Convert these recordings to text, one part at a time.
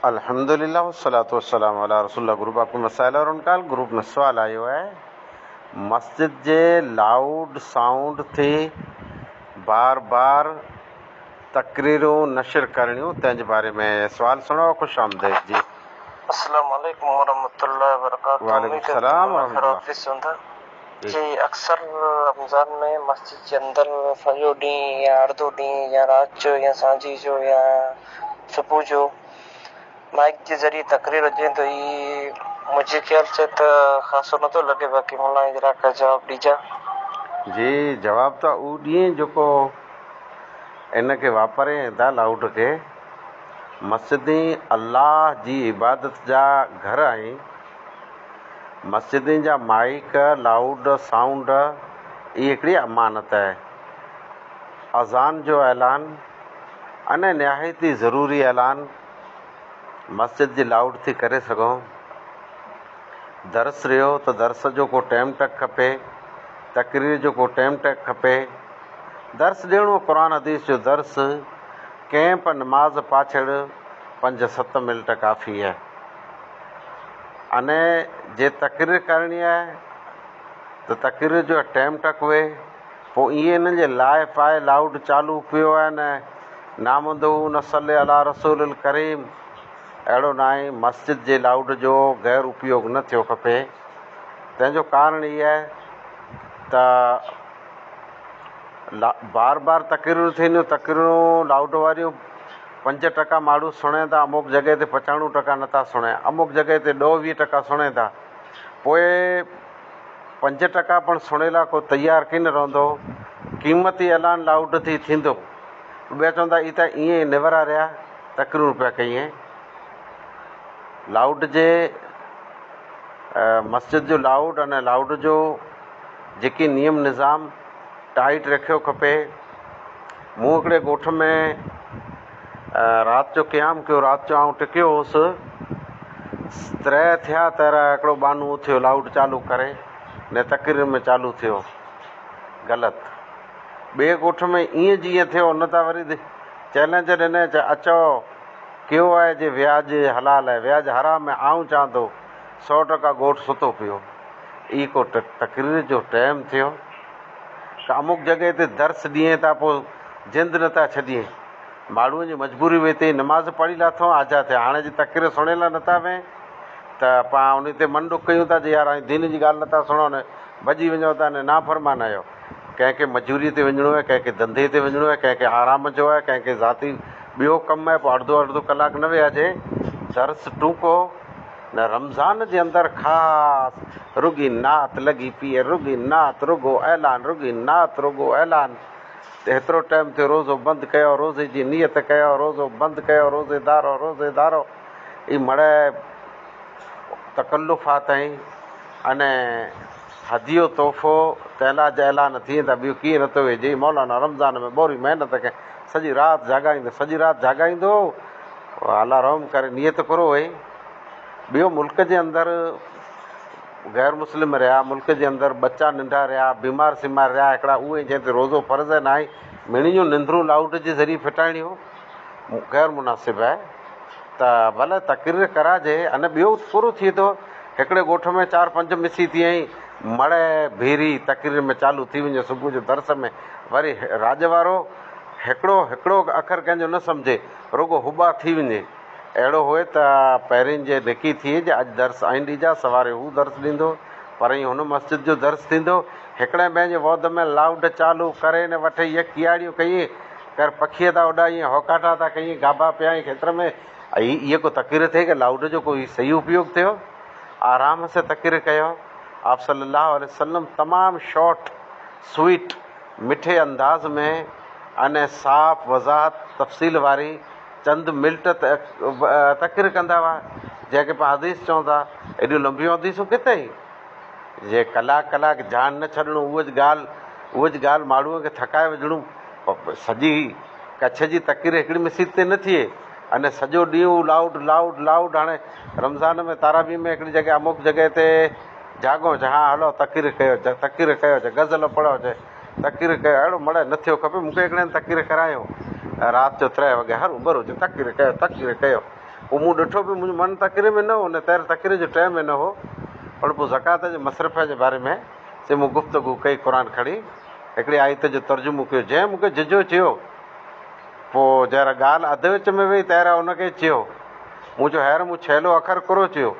الحمد لله والصلوة والسلام علی رسول الله گروپ آپ ڪي مسائل اور ان کا حل گروپ ۾ سوال آيو آهي مسجد جي لائوڊ سائونڊ تي بار بار تقريرون نشر ڪرڻيون تنهن جي باري ۾ سوال سڻو خوش آمديد جي. اسلام عليڪم ورحمة الله وبرڪاته وعليڪم السلام ورحمة الله. جي اڪثر رمضان ۾ مسجد جي اندر سڄو ڏينهن يا اڙڌو ڏينهن يا رات جو يا سانجهي جو يا صبح جو مائيڪ جي ذريعي تقرير هجين ته هي منهنجي خيال سين ته خاصو نه ٿو لڳي باقي ملان اجرا کان جواب ڏجان. جي جواب ته اهو ڏين جيڪو ان کي واپرين ۽ دا لائوڊ کي. مسجدين الله جي عبادت جا گهر آهن. مسجدين جا مائيڪ، لائوڊ سائونڊ، ئي هڪڙي امانت آهي. اذان جو اعلان، انهي نهايت ئي ضروري اعلان مسجد جي لائوڊ ٿي ڪري سگهون. درس رهيو ته درس جو ڪو ٽيم ٽڪ کپي، تقرير جو ڪو ٽيم ٽڪ کپي. درس ڏيڻو قرآن حديث جو درس، ڪئمپ، نماز پاڇڙ پنج ست منٽ ڪافي آهي. انهيء جي تقرير ڪرڻي آهي ته تقرير جو ٽيم ٽڪ هئي پوء ايئن انهن جي لاء پاء لائوڊ چالو پيو آهي نه نامدو نه صلي علي رسول الڪريم اهڙو ناهي مسجد جي لائوڊ جو غير اپيوگ نه ٿيو کپي تنهن جو ڪارڻ هي آهي ته بار بار تقريرون ٿينديون تقريرون لائوڊ واريون پنج ٽڪا ماڻهو سڻين ٿا اموڪ جڳهه تي پچاڻو ٽڪا نه ٿا سڻين اموڪ جڳهه تي ڏهه ويهه ٽڪا سڻين ٿا پوء پنج ٽڪا پڻ سڻي لا ڪو تيار ڪين رهندو قيمتي اعلان لائوڊ ٿي ٿيندو ٻيا چوندا اي ته ايئن ئي نورا رهيا تقريرون پيا ڪيئين لائوڊ جي مسجد جو لائوڊ ان لائوڊ جو جيڪي نيم نظام ٽائيٽ رکيو کپي مون هڪڙي ڳوٺ ۾ رات جو قيام ڪيو. رات جو آئون ٽڪيو هوس. ترهه ٿيا تر هڪڙو ٻانهو اٿيو لائوڊ چالو ڪري نه تقرير ۾ چالو ٿيو. غلط. ٻئي ڳوٺ ۾ ايئن جي ايئن ٿيو ان تان وري چئلينج ڏني چا اچئو ڪيو آهي جي وياج حلال آهي وياج حرام آهي آئون چان ٿو سؤ ٽڪا ڳوٺ ستو پيو. اي ڪو تقرير جو ٽيم ٿيو. ڪامڪ جڳهه تي درس ڏيئين ٿا پوء جند نه ٿا ڇڏين. ماڙهوء جي مجبوري هئي تي نماز پڙهي لاٿئون آجا ٿيا. هاڻي جي تقرير سڻڻ لاء نه ٿا ويهين ته پوء انهي تي من ڏک ڪيون ٿا جو يار اوهين دين جي ڳالهه نه ٿا سڻو نه ڀڄي وڃو ٿا نه نافرمان آهيو. ڪنهن کي مجوري تي وڃڻو آهي ڪنهن کي ڌنڌي تي وڃڻو آهي ڪنهن کي آرام جو آهي ڪنهن کي ذاتي ٻيو ڪم آهي پوء اڙڌو اڙڌو ڪلاڪ نه ويهجي درس ٽونڪو. نه رمضان جي اندر خاص. رڳي نعت لڳي پيئي رڳي نعت رڳو اعلان رڳي نعت رڳو اعلان ته هيترو ٽائيم ٿيو روزو بند ڪيو روزي جي نيت ڪيو روزو بند ڪيو روزيدارو روزيدارو اي مڙئي تڪلف آ تائين ان هديو تحفو تعلاج اعلان ٿئين ته ٻيو ڪيئن نٿو ويجي اي مولانا رمضان ۾ ٻوري محنت ڪئين سڄي رات جاڳائيندو سڄي رات جاڳائيندو الا رحم ڪري نيت ڪرو اي ٻيو ملڪ جي اندر غير مسلم رهيا ملڪ جي اندر ٻچا ننڍا رهيا بيمار سيمار رهيا هڪڙا اهي جنهن تي روزو فرض آهي ناهي مڙني جون نندرون لائوڊ جي ذريعي ڦٽائڻي هو غير مناسب آهي ته ڀلي تقرير ڪرائجي ان ٻيو پورو ٿئي ٿو هڪڙي ڳوٺ ۾ چار پنج مسي ٿي ائين مڙ ڀيري تقرير ۾ چالو ٿي وڃي صبح جو درس ۾ وري راڄ وارو هڪڙو هڪڙو اکر ڪنهن جو نه سمجهي رڳو هٻا ٿي وڃي اهڙو هئي ته پهرين جي نڪي ٿئي جي اڄ درس آئين ڏيجان، سواري هو درس ڏيندو، پرائين هن مسجد جو درس ٿيندو. هڪڙين پنهنجي ووڌ ۾ لائوڊ چالو ڪري نه وٺئي هيء ڪياڙيون ڪيئين ڪر پکيء ٿا اڏائين، هوڪاٽا ٿا ڪيئين، گابا پيائين کيتر ۾، اهي اهي ڪو تقرير ٿئي ڪي لائوڊ جو ڪو هي صحيح اپيوڳ ٿيو؟ آرام سين تقرير ڪيو. آپ صلّي اللّٰه عليه وسلّم تمام شارٽ، سويٽ، مٺي انداز ۾ انهي صاف، وضاحت، تفصيل واري، چند ملٽ تقرير ڪندا هئا جنهن کي پاڻ حديث چون ٿا ايڏيون لنبيون حديثون ڪٿي جي ڪلاڪ ڪلاڪ ڌيان نه ڇڏڻو اهو جي ڳالهه اهو جي ڳالهه ماڻهوء کي ٿڪائي وجهڻو سڄي ڪڇ جي تقرير هڪڙي مسيت تي نه ٿئي ان سڄو ڏينهن لائوڊ لائوڊ لائوڊ هاڻي رمضان ۾ تارابي ۾ هڪڙي جڳهه اموڪ جڳهه تي جاڳو چا هلو تقرير ڪيو تقرير ڪيو غزل پڙهيو تقرير ڪيو اهڙو مڙهه نه ٿيو کپي مون کي هڪڙي هنڌ تقرير ڪرايو ۽ رات جو ترهه وڳي هر اوڀر هجي تقرير ڪيو تقرير ڪيو پوء مون ڏٺو ڀي منهنجو من تقرير ۾ نه هو نه تير تقرير جو ٽيم هن هو پر پوء زڪوات جي مصرفيٰ جي باري ۾ سي مون گفتگو ڪئي قرآن کڻي هڪڙي آيت جو ترجمو ڪيو جنهن مون کي ججهو چيو پوء جهر ڳالهه اڌ وچ ۾ وئي تير هن کي چيو مون چيو هير مون ڇيلو اکر ڪرو چيو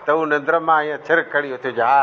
ته هو نندر مان ائين ڇرڪ کڻي اٿيو چيو ها